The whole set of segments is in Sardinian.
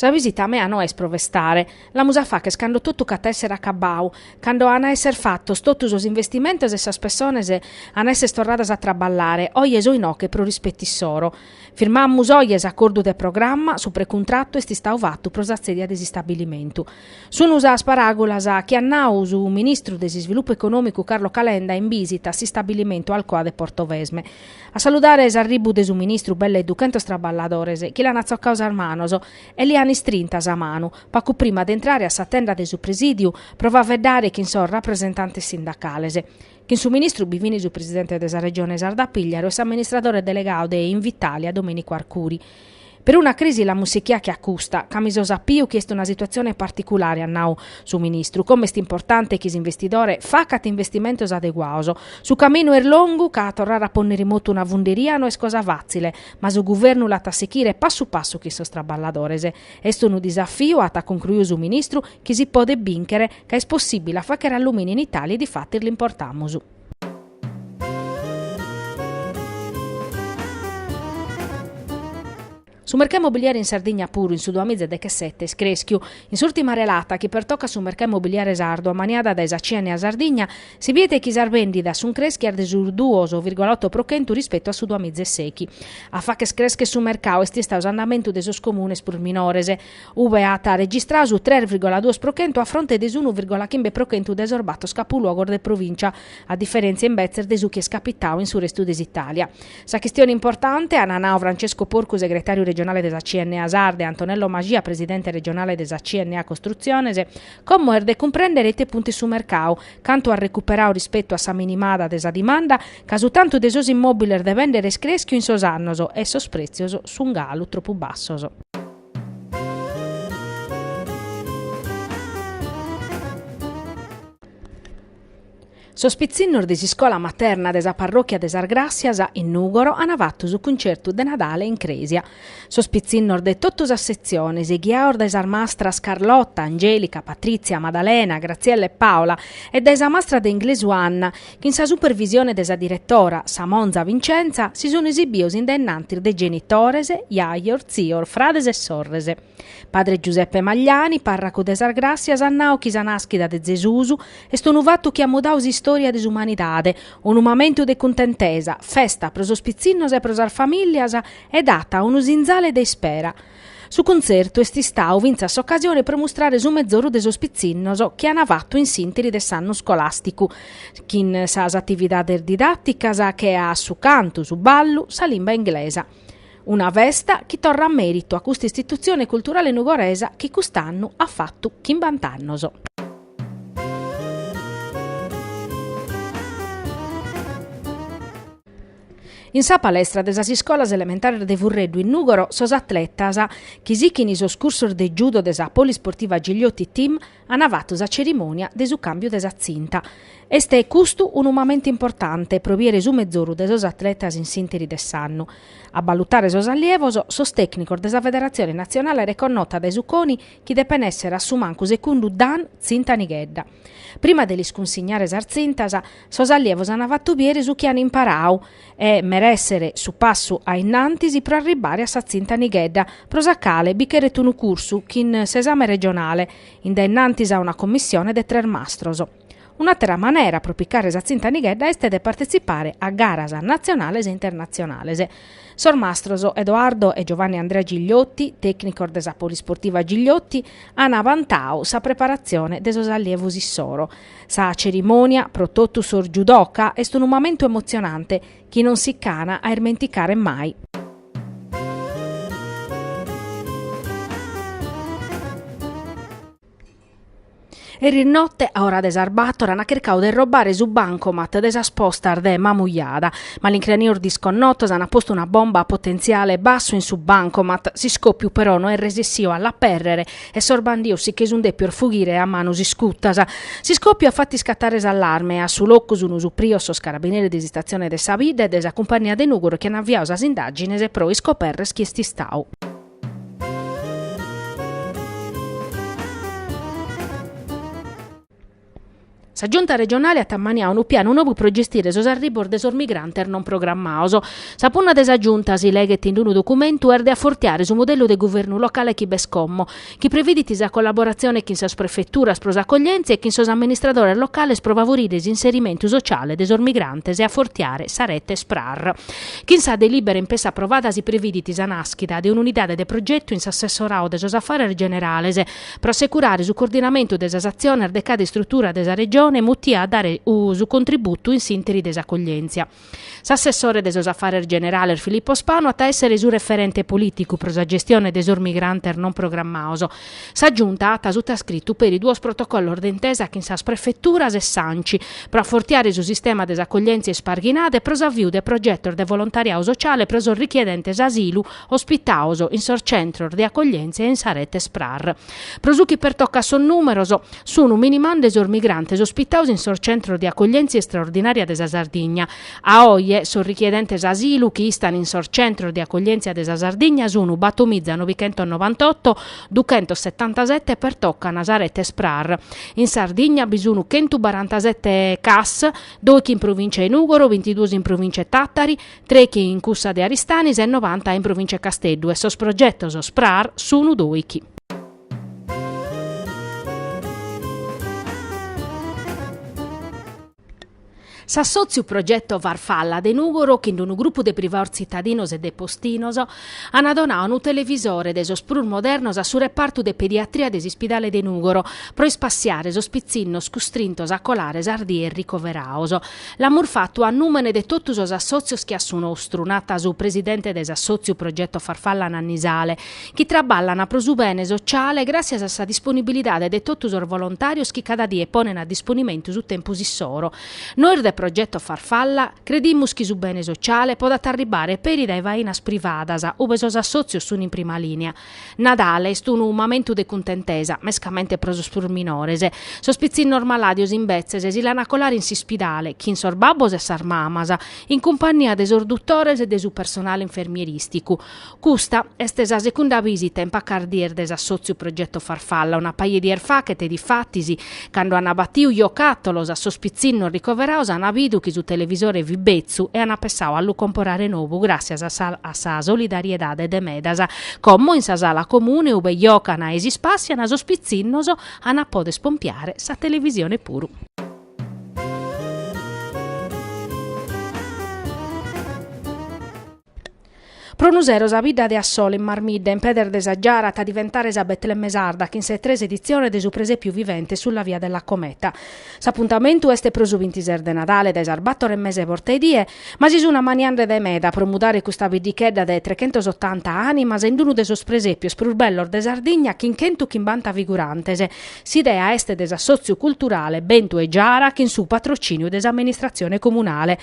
Sa visita mea no est pro festare, l'amus a facher cando totu ch'at a èssere acabbau, cando an a èssere fatos totu sos investimentos e sas pessones an a èssere torradas a traballare, oje so inoche pro rispettu issoro. Firmamus oje s'acordu de programma, su precuntrattu est istau fatu pro sa tzèdia de s'istabilimentu. Sunu sas paràgulas chi at nau su ministru de s'Isvilupu Econòmicu Carlo Calenda in bìsita a s'istabilimentu Alcoa de Portovesme. A saludare s'arribu de su ministru belle duchentos traballadores chi l'an atzocau sas manos e li an istrinta sa manu pacu prima de intrare a sa tenda de su presìdiu pro faveddare chin sos rapresentantes sindacales. Chin su ministru bi fin su presidente de sa Regione Sarda Pigliaru e s'amministradore delegau de Invitalia Domenico Arcuri. Peruna crisi l'amus sichia che a custa, ca mi so sapiu chi est una situatzione particulare, at nau su ministru, como est importante chi s'investidore facat investimentos adeguaos. Su caminu est longu ca a torrare a pònner in motu una funderia no est cosa fàtzile, ma su guvernu l'at a sichire passu passu chin sos traballadores. Est unu disafiu, at concluiu su ministru, chi si podet bìnchere, Ca est possibile a facher allumini in Italia e difatis l'importamus. Su mercau immobiliare in Sardigna puru in su duamiza e dechesete est creschiu. In s'urtima relata chi pertocat su mercau immobiliare sardu ammaniada dae sa CNA Sardigna, si bidet chi sas bendidas sun creschias de su duos virgola oto pro chentu rispetu a su duamiza e sechi. A facher creschere su mercau est istau s'andamentu de sos comunes prus minores. ube at registrau su tres virgola duos pro chentu a fronte de s'unu virgola chimbe pro chentu de sos bator capuluogos de provìncia, a diferèntzia imbetzes de su chi est capitau in su restu de s'Itàlia. Sa chistione importante, ant nau Francesco Porcu segretàriu regionale de sa CNA Sarda e Antonello Mascia presidente regionale de sa CNA Costrutziones, como est de cumprèndere ite puntu est su mercau, cantu at recuperau rispetu a sa minimada de sa dimanda, ca su tantu de sos immòbiles de bèndere est crèschiu in sos annos e sos prètzios sunt galu tropu bassos. Sos pitzinnos de s'iscola materna de sa parròchia de Sas Gràssias, in Nùgoro, ant fatu su cuncertu de Nadale in crèsia. Sos pitzinnos de totu sas setziones, ghiaos dae sas mastras Carlotta, Angelica, Patrizia, Maddalena, Graziella e Paola e dae sa mastra de inglesu Anna, Chin sa supervisione de sa diretora, sa monza Vincenza, si sun esibios in dennantis de genitores, jajos, tzios, frades e sorres. Padre Giuseppe Magliani, parracu de sas Gràssias at nau chi sa nàschida de Zesus est unu fatu chi at mudau s'istòria de s'umanidade, unu mamentu de cuntentesa, festa pro sos pitzinnos e pro sas famìllias e dat unu sinzale de ispera. Su contzertu est istau fintzas s'ocasione pro mustrare su mezoru de sos pitzinnos chi an fatu in s'ìnteri de s'annu scolàsticu, chin sas atividades didàticas che a su cantu, su ballu, sa limba inglesa. Una festa chi torrat mèritu a custa istitutzione culturale nugoresa chi cust'annu at fatu chimbant'annos. In sa palestra de sas iscolas elementares de Furreddu in Nùgoro sos atletas chi sichin sos cursos de judo de sa Polisportiva Gigliotti Team ant fatu sa cerimònia de su càmbiu de sa tzinta. Est custu unu mamentu importante pro biere su mezoru de sos atletas in s'ìnteri de s'annu. A balutare sos allievos, sos tècnicos de sa federatzione natzionale reconnota dae su CONI chi depen èssere a su mancu secundu Dan Tzinta Nighedda. Prima de lis cunsignare sas tzintas, sos allievos ant fatu biere su chi ant imparau e merèssere su passu a innantis pro arribbare a sa tzinta Nighedda, pro sa cale bi cheret unu cursu chin s'esame regionale, in dae innantis a una commissione de tres mastros. Un'àtera manera pro picare sa tzinta Nighedda est de partetzipare a garas natzionales e internatzionales, Sos mastros Edoardo e Giovanni Andrea Gigliotti, tècnicos de sa Polisportiva Gigliotti, an abantau sa preparatzione de sos allievos issoro. Sa cerimònia, pro totu sos judoka, est unu mamentu emotzionante chi non si ch'an a irmenticare mai. Eris note, a ora de sas bator, an chircau de robbare su bancomat de sas postas de Mamujada. Malincranios disconnotos an postu una bomba a potentziale bassu in su bancomat, s'iscòpiu però no est resessìu a l'apèrrere e sos bandios si che sun dèpios fughire a manos iscutas. S'iscòpiu at fatu iscatare s'allarme e a su locu sun suprios sos carabineris de s'istatzione de sa bidda e de sa cumpannia de Nùgoro chi an aviau sas indàgines pro iscoperrer chi est istau. Sa Giunta regionale at ammaniau unu pianu nobu pro gestire sos arribos de sos migrantes non programmaos. Sa punna de sa Giunta, si leghet in unu documentu, est de afortiare su modellu de guvernu locale chi b'est como, chi previdit sa collaboratzione chin sas prefeturas pro s'accoglièntzia e chin sos amministradores locales pro favorire s'inserimentu sociale de sos migrantes e afortiare sa rete SPRAR. Chin sa delìbera in pessa aprovada si previdit sa nàschida de un'unidade de progetu in s'Assessorau de sos Afares Generales pro assecurare su coordinamentu de sas atziones de cada istrutura de sa Regione mutia a dare su contributu in s'ìnteri de s'acoglièntzia. S'Assessore de sos Afares Generales Filippo Spanu at a èssere su referente polìticu pro sa gestione de sos migrantes non programmaos, Sa Giunta at sutascritu peri duos protocollos de intesa chin sas prefeturas e s'Anci pro afortiare su sistema de s'accoglièntzia isparghinada e pro s'aviu de progetos de volontariadu sociale pro sos richiedentes asilu ospitados in sos centros de accoglièntzia e in sa rete SPRAR. Pro su chi pertocat sos nùmeros, sun minimande sos migrantes ospitados in sos centros de accoglièntzia istraordinària de sa Sardigna, A oje, sos richiedentes asilu chi istan in sos centros de acoglientzia de sa Sardigna sunu battomiza novichentos novantotto duchentos settantasette pertocan sa rete SPRAR. In Sardigna bi sunu chentu barantasette CAS, doichi in provincia 'e Nugoro, bintiduos in provincia 'e Tattari, trechi in cussa de Aristanis e novanta in provincia 'e Casteddu e sos progetos SPRAR sunu doichi. S'assòtziu Progetto Farfalla de Nùgoro chin d'unu grupu de privaos tzitadinos e de postinos ant donadu unu televisore de sos prus modernos a su repartu de pediatria de s'Ispidale de Nùgoro pro ispassiare sos pitzinnos custrintos a colare sas dies ricoverados. L'amus fatu a nùmene de totu sos assòtzios che a su nostru, nat su presidente de s'assòtziu Progetto Farfalla Nanni Sale, chi traballan pro su bene sociale gràssias a sa disponibilidade de totu sos volontàrios chi cada die ponen a disponimentu su tempus issoro. Nois de Progetto Farfalla credimus chi su bene sociale podat arribbare peri dae fainas privadas, ube sos assòtzios sun in prima lìnia. Nadale est unu mamentu de cuntentesa, mescamente pro sos prus minores. Sos pitzinnos malàdios imbetzes si l'an a colare in s'ispidale, chin sos babbos e sas mamas, in cumpannia de sos dutores e de su personale infermierìsticu. Custa est sa secunda visita in pacas dies de s'assòtziu Progetto Farfalla. Una paja 'e dies fachet, difatis, cando ant batiu giocàtolos a sos pitzinnos ricoverados ant bidu chi su televisore fit betzu e ant pensadu a lu comporare nou gràssias a sa solidariedade de medas. Como in sa sala comune ue giocant e s'ispàssiant sos pitzinnos ant a poder pompiare sa televisione puru. Pro unu sero sa bidda de Assolo in Marmidda, in pedes de sa Giara, at a diventare sa Betlemme sarda chin sa tres editzione de su presèpiu vivente Sulla via della cometa. S'apuntamentu est pro su bintises de Nadale dae sas bator e mesa 'e borta 'e die, ma si sun ammaniande dae meda pro mudare custa biddichedda de trechentosottanta ànimas in unu de sos presèpios prus bellos de Sardigna chin chentu chimbanta figurantes. S'idea est de s'assòtziu culturale Bentu e Giara chin su patrocìniu de s'amministratzione comunale.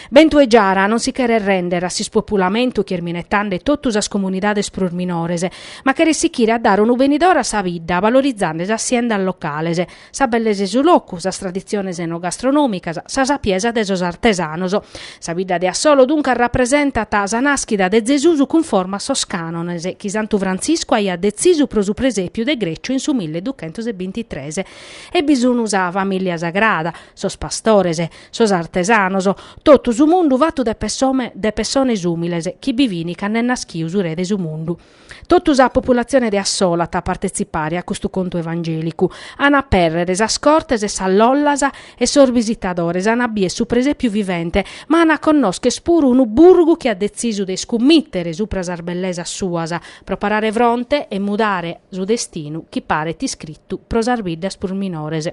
Bentu 'e Giara non si cheret rèndere a s'ispopulamento chi est minetzande totu sas comunidades prus minores, ma cheret sichire a dare unu benidore a sa bidda valorizande sas siendas locales, sa bellesa 'e su locu, sas traditziones enogastronòmicas, sa sapiesa de sos artesanos. Sa bidda de Assolo duncas rapresentat sa nàschida de Zesus cunforma a sos cànones chi Santu Frantziscu aiat detzisu pro su presèpiu de Greccio in su milleduchentos e bintitres. Ebbis unu sa famìllia sagrada, sos pastores, Sos artesanos, totu su mundu fatu de pessones ùmiles chi bivian cand'est naschiu su Re de su mundu. Totu sa populatzione de Assolo at a partetzipare a custu contu evangèlicu. An a apèrrere sas cortes e sas lollas e sos bisitadores an a bier su presèpiu vivente, ma an a connòschere puru unu burgu chi at detzisu de iscummìtere supra sas bellesas suas pro parare fronte e mudare su destinu chi paret iscritu pro sas biddas prus minores.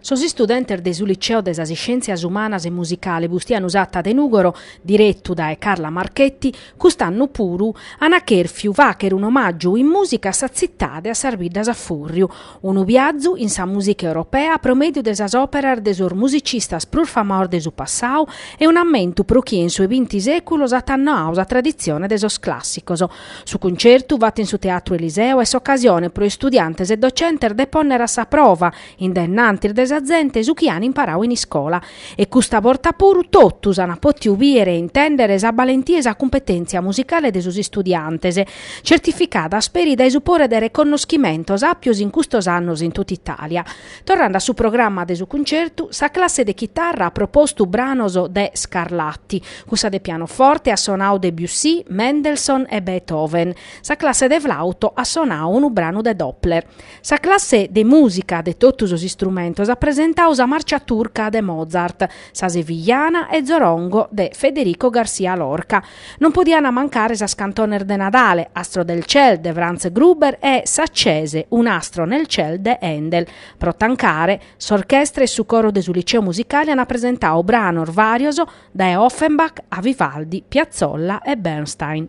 Sos istudentes de su Liceo de sas Iscièntzias Umanas e Musicale Bustianu Satta de Nùgoro, diretu dae Carla Marchetti, cust'annu puru, an chèrfiu fàghere un'omàgiu in mùsica a sa tzitade a sas biddas a fùrriu, Unu biazu in sa mùsica europea pro mèdiu de sas òperas de sos musicistas prus famaos de su passau e un'ammentu pro chie in su 'e binti sèculos at annoau sa traditzione de sos clàssicos. Su cuncertu fatu in su Teatru Eliseo est s'ocasione pro istudiantes e docentes de pònnere a sa prova, in dae innantis de sa zente, su chi an imparau in iscola. E custa borta puru totus ant pòtiu bìdere e intèndere sa balentia e sa cumpetèntzia musicale de sos istudiantes, tzertificada asperi dae su pore de reconnoschimentos àpios in custos annos in totu Itàlia. Torrande a su programma de su cuncertu, sa classe de chitarra at propostu branos de Scarlatti, cussa de pianoforte at sonau Debussy, Mendelssohn e Beethoven, sa classe de flàuto at sonau unu branu de Doppler. Sa classe de mùsica de totu sos istrumentos at presentau sa Marcia Turca de Mozart, sa Sevillana e Zorongo de Federico García Lorca. Non podiant mancare sas cantones de Nadale, Astro del Ciel de Franz Gruber e S'accese un astro nel ciel de Handel. Pro tancare, s'orchestra e su coro de su Liceo Musicale ant presentau branos vàrios dae Offenbach a Vivaldi, Piazzolla e Bernstein.